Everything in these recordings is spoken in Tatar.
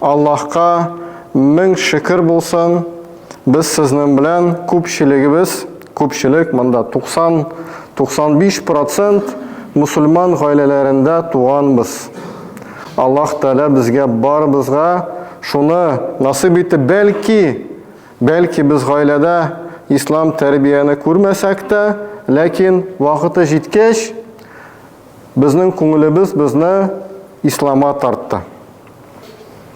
Аллаһка мең шөкер булсын, без сезнең белән күпчелегебез, күпчелек монда 90, 95 процент мөселман гаиләләрендә туганбыз. Аллаһ Тәгалә безгә барыбызга шуны насыйп итте, бәлки, бәлки без гаиләдә ислам тәрбияне күрмәсәк тә, ләкин вакыты җиткәч, безнең күңелебез безне ислама тартты.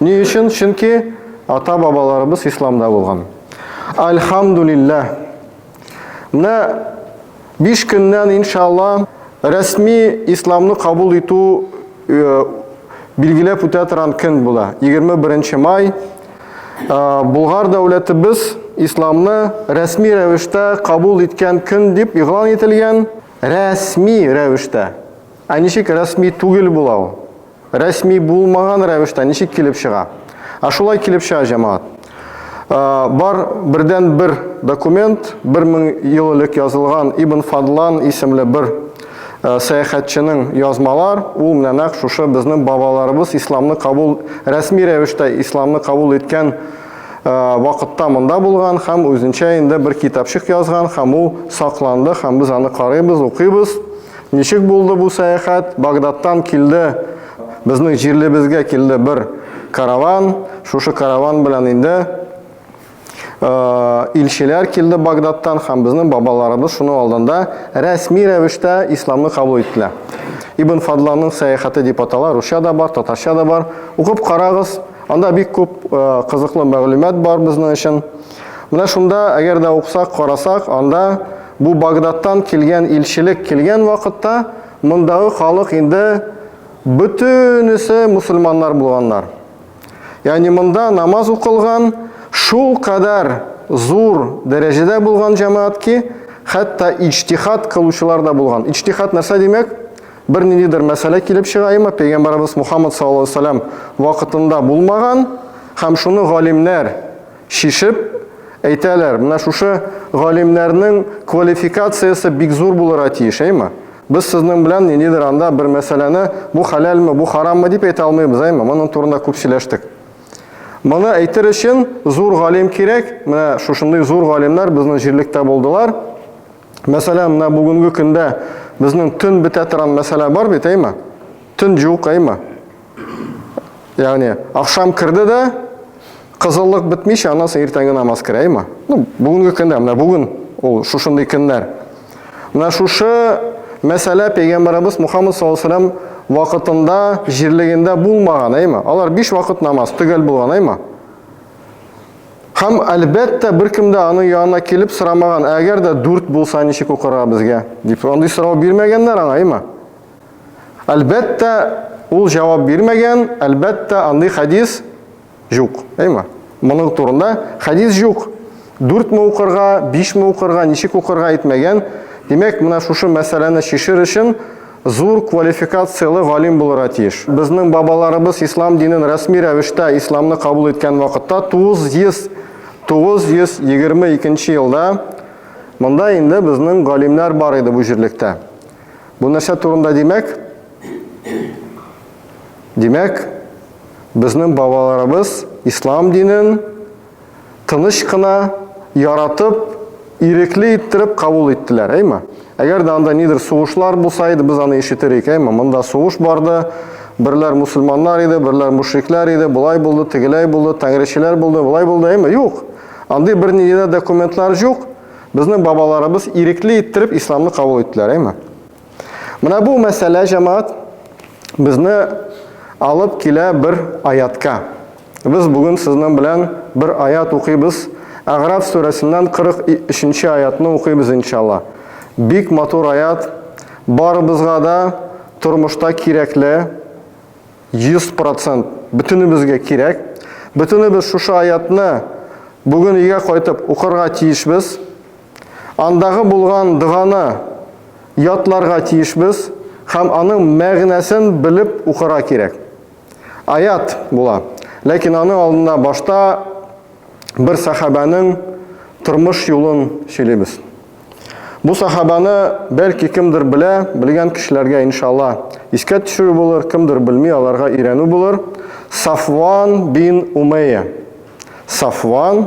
Ни өчен? Чөнки ата-бабаларыбыз исламда булган. Альхамдулиллаһ. Менә 5 көннән иншалла рәсми исламны кабул итү э, билгеләп үтә торган көн була. 21 май э, Булгар дәүләтебез исламны рәсми рәвештә кабул иткән көн дип игълан ителгән. Рәсми рәвештә. Ә ничек рәсми түгел була ул? Рәсми булмаган рәвештә ничек килеп чыга? Ә шулай килеп чыга җәмаат. Бар бердән бер документ, 1000 ел элек язылган Ибн Фадлан исемле бер сәяхәтченең язмалар, ул менә нәкъ шушы безнең бабаларыбыз исламны кабул рәсми рәвештә исламны кабул иткән вакытта монда булган һәм үзенчә инде бер китапчык язган һәм ул сакланды һәм без аны карыйбыз, укыйбыз. Ничек булды бу сәяхәт? Багдадтан килде, безнең җирлебезгә килде бер караван. Шушы караван белән инде Э, илчеләр килде Багдадтан һәм безнең бабаларыбыз шуның алдында рәсми рәвештә исламны кабул иттеләр. Ибн Фадланның сәяхәте дип атала, русча да бар, татарча да бар. Укып карагыз, анда бик күп э, кызыклы мәгълүмат бар безнең өчен. Менә шунда, әгәр дә уксак, карасак, анда бу Багдадтан килгән илчелек килгән вакытта мондагы халык инде бөтенесе мусульманнар булганнар. Ягъни монда намаз укылган, шул кадәр зур дәрәҗәдә булган җәмәгать ки, хәтта иҗтихад кылучылар да булган. Иҗтихад нәрсә димәк? Бер ниндидер мәсьәлә килеп чыга, имма пәйгамбәребез Мухаммад саллаллаһу алейһи ва сәлләм вакытында булмаган, һәм шуны галимнәр, Чишеп әйтәләр, менә шушы галимнәрнең квалификациясе бик зур булырга тиеш, әйме? Без сезнең белән ниндидер анда бер мәсьәләне бу хәләлме, бу хараммы дип әйтә алмыйбыз, әйме? Моның турында күп сөйләштек. Моны әйтер өчен зур галим кирәк. Менә шушындый зур галимнәр безнең җирлектә булдылар. Мәсәлән, менә бүгенге көндә безнең төн бетә торган мәсьәлә бар бит, әйме? Төн җук, әйме? Ягъни, ахшам керде дә, кызыллык бетмичә, аннан соң иртәнге намаз керә, әйме? Ну, бүгенге көндә, менә бүген ул шушындый көннәр. Менә шушы мәсьәлә пәйгамбәребез Мухаммад саллаллаху алейһи вакытында, җирлегендә булмаган, әйме? Алар биш вакыт намаз төгәл булган, әйме? Һәм, әлбәттә, беркем дә аның янына килеп сорамаган, әгәр дә дүрт булса, ничек укырга безгә? дип, андый сорау бирмәгәннәр аңа, әйме? Әлбәттә, ул җавап бирмәгән, әлбәттә, андый хәдис юк, әйме? Моның турында хәдис юк. Дүртме укырга, бишме укырга, ничек укырга әйтмәгән. Димәк, менә шушы мәсьәләне шешер өчен Зур квалификацияле галим булырга тиеш. Безнең бабаларыбыз ислам динен рәсми рәвештә исламны кабул иткән вакытта 900 922 нче елда монда инде безнең галимнәр бар иде бу җирлектә. Бу нәрсә турында димәк? Димәк, безнең бабаларыбыз ислам динен тыныч кына, яратып, ирекле иттереп кабул иттеләр, әйме? Әгәр дә анда нидер сугышлар булса иде, без аны ишетер идек, әйме? Монда сугыш барды, берләр мусульманнар иде, берләр мушриклар иде, болай булды, тегеләй булды, тәңречеләр булды, болай булды, әйме? Юк. Андый берни дә документлар юк. Безнең бабаларыбыз ирекле иттереп исламны кабул иттеләр, әйме? Менә бу мәсьәлә җәмәгать безне алып килә бер аятка. Без бүген сезнең белән бер аят укыйбыз. Әгъраф сүрәсеннән 43-нче аятны укыйбыз иншалла. Бик матур аят. Барыбызга да тормышта кирәкле 100% бөтенебезгә кирәк. Бөтенебез шушы аятны бүген өйгә кайтып укырга тиешбез. Андагы булган доганы ятларга тиешбез һәм аның мәгънәсен белеп укырга кирәк. Аят була, ләкин аның алдында башта бер сахабәнең тормыш юлын сөйлибез. Бу сахабаны бәлки кемдер белә, белгән кешеләргә иншалла искә төшерү булыр, кемдер белми, аларга өйрәнү булыр. Сафван бин Умәя. Сафван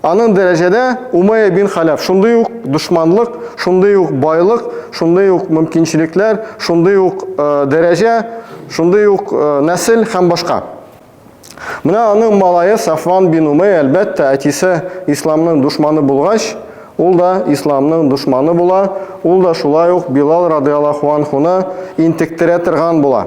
Аның дәрәҗәдә Умайя бин Халяф шундый ук дошманлык, шундый ук байлык, шундый ук мөмкинчелекләр, шундый ук э, дәрәҗә, шундый ук э, нәсел һәм башка. Менә аның малае Сафван бин Умай, әлбәттә, әтисе исламның душманы булгач, ул да исламның душманы була, ул да шулай ук Билал радиаллаху анхуны интектерә торган була.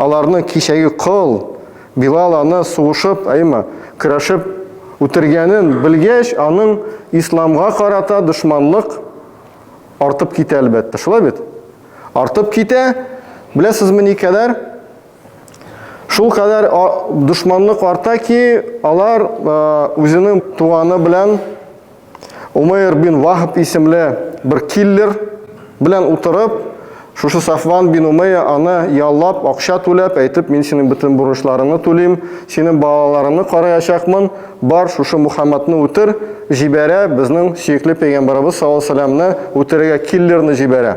Аларны кичәге кол, Билал аны сугышып, әйма, көрәшеп үтергәнен белгәч, аның исламга карата дошманлык артып китә, әлбәттә. Шулай бит? Артып китә. Беләсезме никадәр? Шул кадәр дошманлык арта ки, алар үзенең туганы белән Умейр бин Вахб исемле бер киллер белән утырып, шушы Сафван бин Умейя аны яллап, акча түләп, әйтеп, мин синең бөтен бурычларыңны түлим, синең балаларыңны караячакмын, бар, шушы Мухаммадны үтер, җибәрә, безнең сөекле пәйгамбәребез саллаллаһу галәйһи ва сәлләмне үтерергә киллерны җибәрә.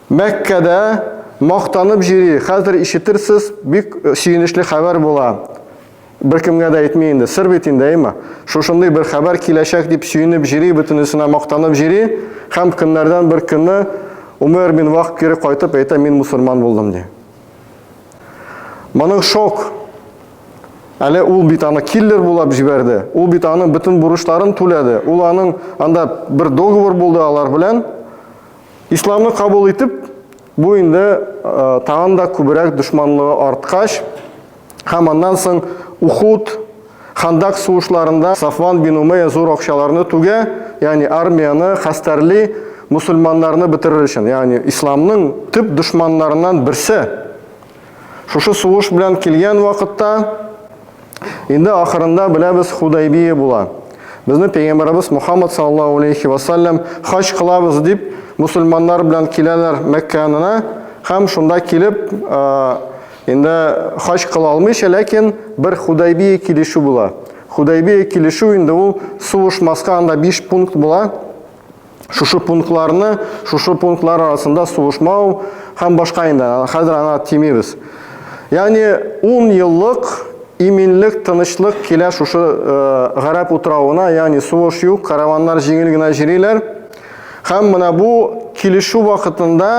Мәккәдә мактанып җөри, хәзер ишетерсез, бик сөенечле хәбәр була. Беркемгә дә әйтми инде, сер бит инде, әйме? Шушындый бер хәбәр киләчәк дип сөенеп җөри, бөтенесенә мактанып җөри һәм көннәрдән бер көнне Умәр бин Вахб кире кайтып әйтә, мин мусульман булдым, ди. Моның шок. Әле ул бит аны киллер булып җибәрде. Ул бит аның бөтен бурычларын түләде. Ул аның анда бер договор булды алар белән. Исламны кабул итеп, бу инде тагын да күбрәк дошманлыгы арткач, һәм аннан соң Ухуд, Хандак сугышларында Сафван бин Умәя зур акчаларны түгә, ягъни армияне хәстәрли, мусульманнарны бетерер өчен, ягъни исламның төп дошманнарыннан берсе. Шушы сугыш белән килгән вакытта инде ахырында беләбез Худайбия була. Безне пәйгамбәрбез Мухаммад саллаллаһу алейхи ва саллям хаҗ кылабыз дип мусульманнар белән киләләр Мәккә янына һәм шунда килеп инде хаҗ кыла алмыйча, ләкин бер Худайбия килешү була. Худайбия килешү инде ул сугышмаска анда 5 пункт була. шушы пунктларны, шушы пунктлар арасында сугышмау һәм башка инде, хәзер аңа тимибез. Ягъни 10 еллык иминлек, тынычлык килә шушы э, гарәп утравына, ягъни сугыш юк, караваннар җиңел генә җириләр. Һәм менә бу килешү вакытында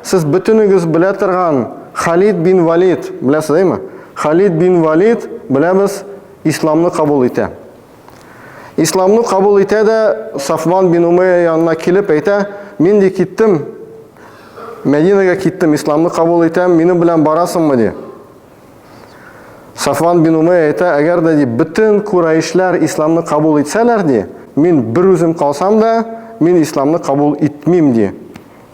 сез бөтенегез белә торган Халид бин Валид, беләсезме? Халид бин Валид, беләбез, исламны кабул итә. Исламны кабул итә дә Сафван бин Умәя янына килеп әйтә, мин ди киттем, Мәдинәгә киттем, исламны кабул итәм, минем белән барасыңмы ди. Сафван бин Умәя әйтә, әгәр дә ди бөтен курайшлар исламны кабул итсәләр ди, мин бер үзем калсам да, мин исламны кабул итмим ди.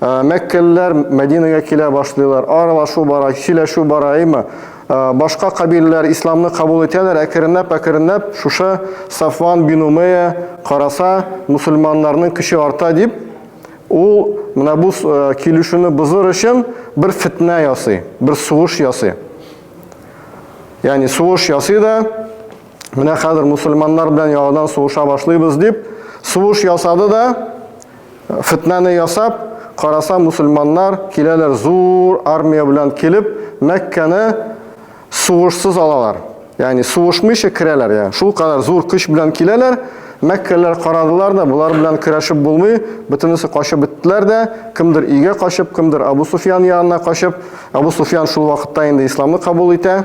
Мәккәлеләр Мәдинәгә килә башлыйлар, аралашу бара, сөйләшү бара, әйме? Башка кабиләләр исламны кабул итәләр, әкренләп, әкренләп шушы Сафван бин Умея караса, мусульманнарның көче арта дип, ул менә бу килешүне бозыр өчен бер фитнә ясый, бер сугыш ясый. Ягъни сугыш ясый да, менә хәзер мусульманнар белән яңадан сугыша башлыйбыз дип, сугыш ясады да, Фетнәне ясап, караса мусульманнар киләләр зур армия белән килеп, Мәккәне сугышсыз алалар. Ягъни сугышмыйча керәләр, я. Шул кадәр зур көч белән киләләр. Мәккәлеләр карадылар да, болар белән көрәшеп булмый, бөтенесе качып беттеләр дә, кемдер өйгә качып, кемдер Абу Суфиян янына качып. Абу Суфиян шул вакытта инде исламны кабул итә.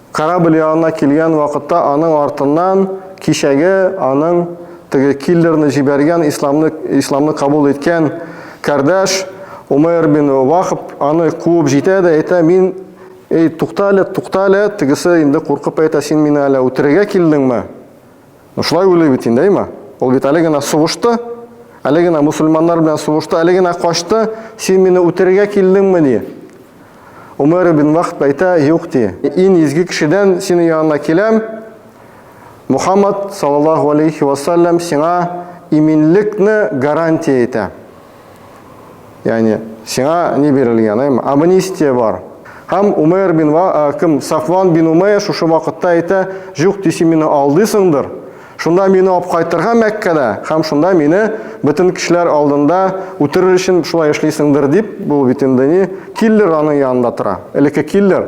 Корабль янына килгән вакытта аның артыннан кичәге аның теге киллерны җибәргән исламны исламны кабул иткән кардәш Умейр бин Вахб аны куып җитә дә әйтә, мин Эй, туктале, туктале, тегесе инде куркып әйтә, син мине әле үтерергә килдеңме? Ну шулай уйлый бит инде, әйма. Ул бит әле генә сугышты, әле генә мусульманнар белән сугышты, әле генә качты. Син мине үтерергә килдеңме ни? Умар ибн Вахт әйтә, юк ди. Ин изге кешедән синең янына киләм. Мухаммад саллаллаху алейхи ва саллям сиңа иминлекне гарантия итә. Яни сиңа ни бирелгән, әйме? Амнистия бар. Һәм Умейр бин Ва, кем Сафван бин Умейр шушы вакытта әйтә, "Юк, диси мине алдыйсыңдыр. Шунда мине алып кайтырга Мәккәдә, һәм шунда мине бөтен кешеләр алдында үтерер өчен шулай эшлисеңдер", дип, бу бит инде ни, киллер аның янында тора. Элекке киллер.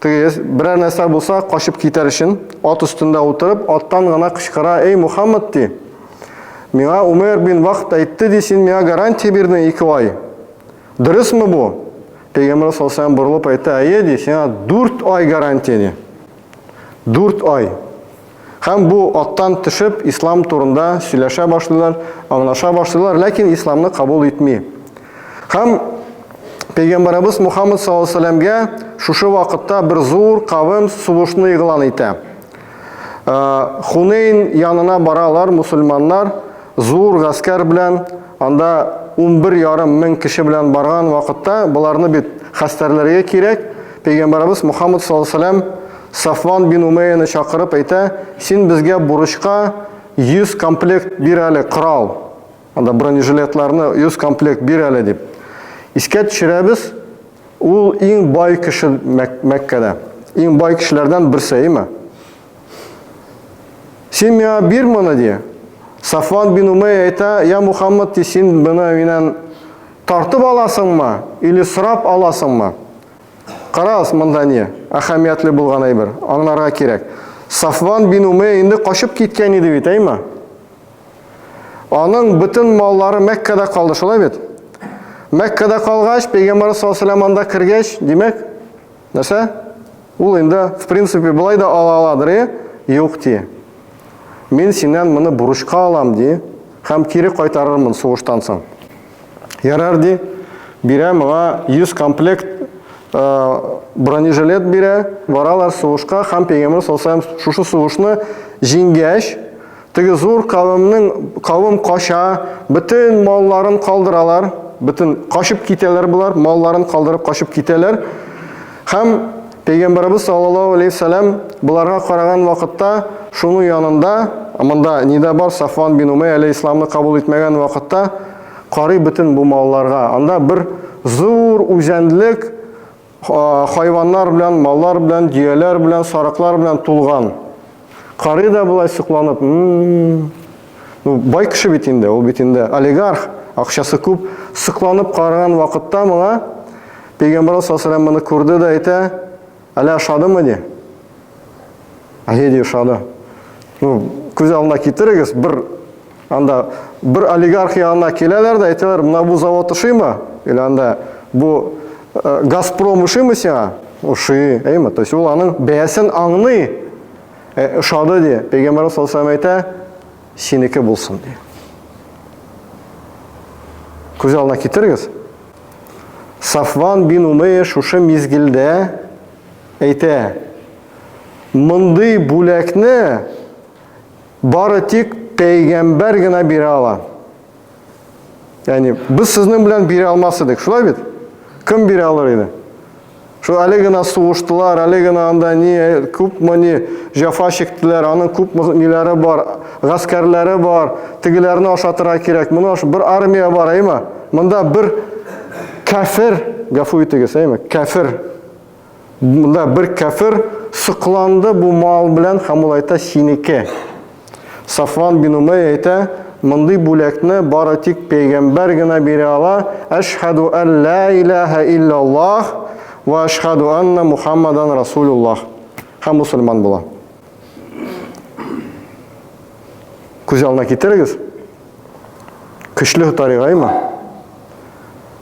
Теге берәр нәрсә булса, качып китәр өчен, ат өстендә утырып, аттан гына кычкыра, Эй, Мухаммад, ди, миңа Умер бин Вахт әйтте, ди, син миңа гарантия бирдең ике ай. Дөресме бу? Пәйгамбер салсам борылып әйтә, әйе, ди, сиңа дүрт ай гарантия, ди. Дүрт ай. Һәм бу аттан төшеп, ислам турында сөйләшә башлыйлар, аңлаша башлыйлар, ләкин исламны кабул итми. Һәм Пәйгамбарыбыз Мухаммад саллаллаху алейһи шушы вакытта бер зур кавым сугышны игълан итә. Хунейн янына баралар мусульманнар, Зур гаскәр белән анда унбер ярым мең кеше белән барган вакытта боларны бит хәстәрләргә кирәк, пәйгамбәребез Мухаммад саллаллаһу галәйһи ва сәлләм Сафван бин Умәяне чакырып әйтә, син безгә бурычка 100 комплект бир әле корал, анда бронежилетларны 100 комплект бир әле дип. Искә төшерәбез, ул иң бай кеше Мәккәдә, иң бай кешеләрдән берсе, әйеме? Син миңа бир моны, ди. Сафван бин Умәй әйтә, я Мухаммад, ди, син моны миннән тартып аласыңмы или сорап аласыңмы? Карагыз, монда ни? Әһәмиятле булган әйбер. Аңларга кирәк. Сафван бин Умәй инде качып киткән иде бит, әйме? Аның бөтен маллары Мәккәдә калды, шулай бит? Мәккәдә калгач, пәйгамбәр саллаллаһу алейһи ва кергәч, димәк, Нәрсә? Ул инде, в принципе, былай да ала аладыр, э? Юк, ди. Мин синнән моны бурычка алам, ди, һәм кире кайтарырмын сугыштан соң. Ярар, ди, бирә моңа 100 комплект э, бронежилет бирә, баралар сугышка, һәм пейгамбер салсам шушы сугышны җиңгәч, Теге зур кавемнең кавем кача, бөтен малларын калдыралар, бөтен качып китәләр болар, малларын калдырып качып китәләр. Һәм Пәйгамбәрбез саллаллаһу алейһи ва сәлләм боларга караган вакытта шуның янында, монда нидә бар, Сафван бин Умәй әле исламны кабул итмәгән вакытта карый бөтен бу малларга. Анда бер зур үзәнлек, Хайваннар белән, маллар белән, дөяләр белән, сарыклар белән тулган. Карый да болай сокланып. Ну, бай кеше бит инде, ул бит инде олигарх, акчасы күп. Сокланып караган вакытта моңа Пәйгамбер саллаллаху алейһи ва күрде дә әйтә, "Әлә ашадымы?" ди. Геди ошады. Ну, күз алдына китерегез, бер анда бер олигарх янына киләләр дә әйтәләр, менә бу завод ошыймы? Или анда бу э, Газпром ошыймы сиңа? Ошый, әйме? То есть ул аның бәясен аңлый. Э, ошады ди. Пәйгамбәр саллаллаху алейһи әйтә, синеке булсын ди. Күз алдына китерегез. Сафван бин Умейя шушы мизгелдә әйтә, мондый бүләкне бары тик пәйгамбәр генә бирә ала. Ягъни без сезнең белән бирә алмас идек, шулай бит? Кем бирә алыр иде? Шул әле генә сугыштылар, әле генә анда ни күпме ни җафа чиктеләр, аның күп ниләре бар, гаскәрләре бар, тегеләрне ашатырга кирәк, моны аш бер армия бар, әйме? Монда бер кәфер, гафу итегез, әйме? Кәфер Монда бер кәфер сокланды бу мал белән һәм ул әйтә синеке. Сафван бин Умәй әйтә, мондый бүләкне бары тик пәйгамбәр генә бирә ала. Әшһаду ан ла илаһа иллаллаһ ва әшһаду анна Мухаммадан расулуллаһ. Һәм мусульман була. Күз алдына китерегез. Көчле таригаймы?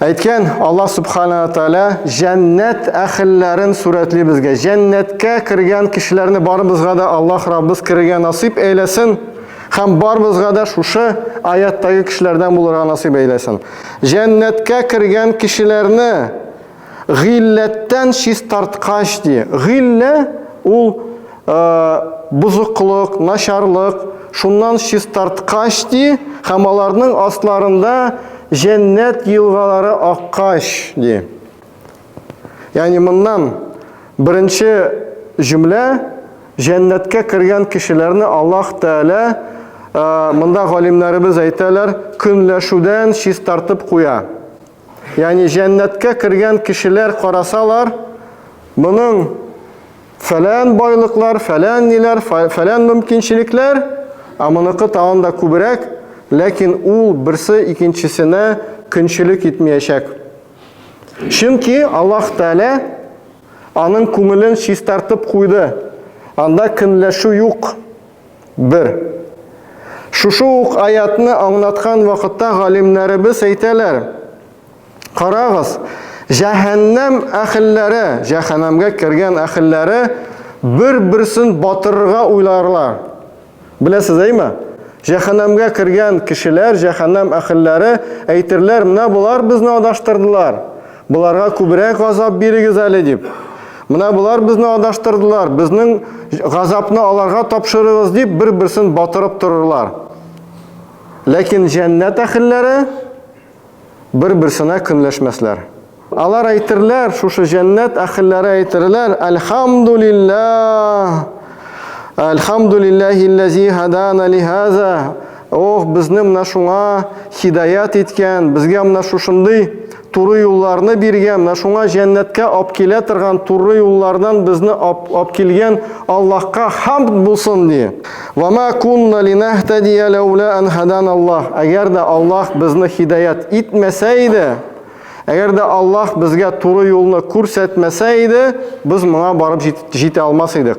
Әйткән Аллаһ Субхана Тәгалә җәннәт әхелләрен сурәтли безгә. Җәннәткә кергән кешеләрне барыбызга да Аллаһ Раббыз керергә насыйп әйләсен һәм барыбызга да шушы аяттагы кешеләрдән булырга насыйп әйләсен. Җәннәткә кергән кешеләрне гыйләттән чистарткач ди. Гыйлә ул бозыклык, начарлык, шуннан чистарткач, ди, һәм аларның астларында җәннәт елгалары аккач, ди. Ягъни моннан беренче җөмлә җәннәткә кергән кешеләрне Аллаһ Тәгалә монда галимнәребез әйтәләр, көнләшүдән чистартып куя. Ягъни җәннәткә кергән кешеләр карасалар, моның фәлән байлыклар, фәлән ниләр, фәлән мөмкинчелекләр, ә моныкы тагын да күбрәк, ләкин ул берсе икенчесенә көнчелек итмиячәк. Чөнки Аллаһ Тәгалә аның күңелен чистартып куйды, анда көнләшү юк. Бер. Шушы ук аятьне аңлаткан вакытта галимнәребез әйтәләр, Карагыз, җәһәннәм әхелләре, җәһәннәмгә кергән әхелләре бер-берсен батырырга уйларлар. Беләсез, әйме? Җәһәннәмгә кергән кешеләр, җәһәннәм әхелләре әйтерләр, менә болар безне адаштырдылар. Боларга күбрәк газап бирегез әле дип. Менә болар безне адаштырдылар, безнең газапны аларга тапшырыгыз дип бер-берсен батырып торырлар. Ләкин җәннәт әхелләре бер-берсенә көнләшмәсләр. Алар әйтерләр, шушы җәннәт әхелләре әйтерләр, Әлхамдулиллах! Әлхамдулиллахилләзи хадана лихаза! Ох, безне менә шуңа хидаят иткән, безгә менә шушындый Туры юлларны биргән, менә шуңа җәннәткә алып килә торган туры юллардан безне алып килгән Аллаһка хамд булсын ди. Ва ма кунна линахтадия лаула ан хадан Аллаһ. Әгәр дә Аллаһ безне хидаят итмәсә иде, әгәр дә Аллаһ безгә туры юлны күрсәтмәсә иде, без моңа барып җитә алмас идек.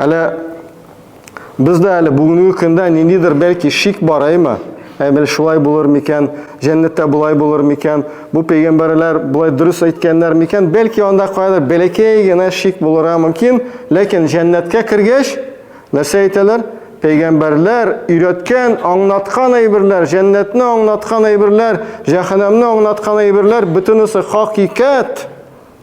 Әле бездә әле бүгенге көндә ниндидер бәлки шик бар, әйме? Әмел шулай булыр микән? Җәннәттә болай булыр микән? Бу пәйгамбәрләр болай дөрес әйткәннәр микән? Бәлки анда кайдыр бәләкәй генә шик булырга мөмкин, ләкин җәннәткә кергәч, нәрсә әйтәләр? Пәйгамбәрләр өйрәткән, аңлаткан әйберләр, җәннәтне аңлаткан әйберләр, җәһәннәмне аңлаткан әйберләр бөтенесе хакыйкать.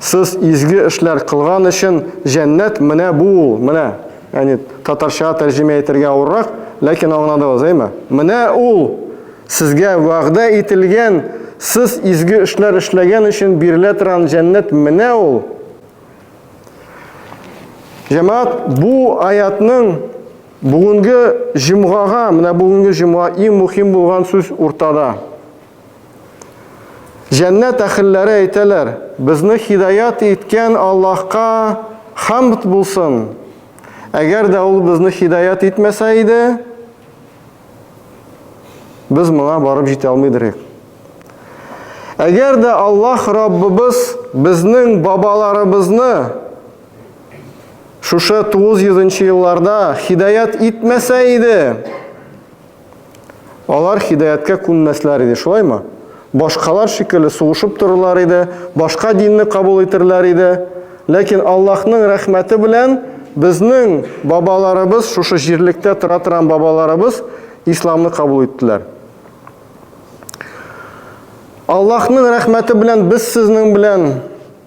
Сез изге эшләр кылган өчен җәннәт менә бу ул, менә. Яни татарча тәрҗемә итәргә авыррак, ләкин аңладыгыз, әйме? Менә ул сезгә вәгъдә ителгән, сез изге эшләр эшләгән өчен бирелә торган җәннәт менә ул. Җәмәгать, бу аятның бүгенге җомгага, менә бүгенге җомга иң мөһим булган сүз уртада. Җәннәт әхелләре әйтәләр, безне хидаят иткән Аллаһка хамд булсын. Әгәр дә ул безне хидаят итмәсә иде, без моңа барып җитә алмыйдыр идек. Әгәр дә Аллаһ Раббыбыз безнең бабаларыбызны шушы 900 елларда хидаят итмәсә иде, Алар һидаяткә күнмәсләр иде, шулаймы? Башкалар шикелле сугышып торырлар иде, башка динне кабул итерләр иде. Ләкин Аллаһның рәхмәте белән безнең бабаларыбыз, шушы җирлектә тора торган бабаларыбыз исламны кабул иттеләр. Аллаһның рәхмәте белән без сезнең белән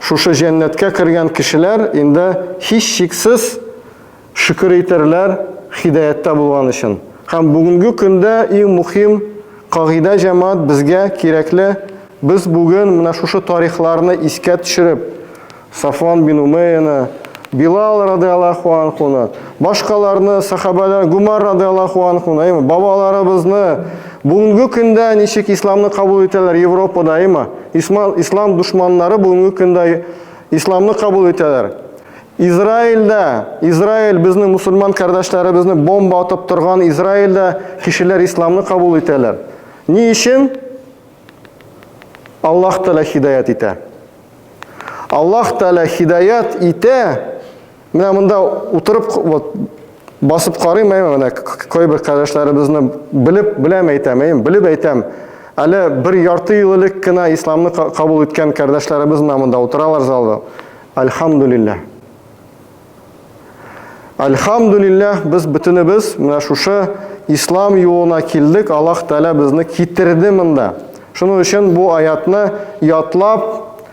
Шушы җәннәткә кергән кешеләр инде һичшиксез шөкер итәрләр һидаяттә булган өчен. Һәм бүгенге көндә иң мөхим кагыйдә җәмәгать безгә кирәкле, без бүген менә шушы тарихларны искә төшереп, Сафван бин Умәяне, Билал радиаллаһу анхуны, Башкаларны, сахабәләр, Гумар радиаллаху анху, әйме, бабаларыбызны бүгенге көндә ничек исламны кабул итәләр Европада, әйме, ислам, ислам душманнары бүгенге көндә исламны кабул итәләр. Израильдә, Израиль безне мусульман кардәшләребезне бомба атып торган Израильдә кешеләр исламны кабул итәләр. Ни өчен? Аллаһ Тәгалә хидаят итә. Аллаһ Тәгалә хидаят итә. Менә монда утырып вот басып карыйм, әйме, менә кайбер кардәшләребезне белеп беләм әйтәм, әйме, белеп әйтәм. Әле бер ярты ел элек кенә исламны кабул иткән кардәшләребез менә монда утыралар залда. Альхамдулиллах. Альхамдулиллах, без бөтенебез менә шушы ислам юлына килдек, Аллаһ Тәгалә безне китерде монда. Шуның өчен бу аятны ятлап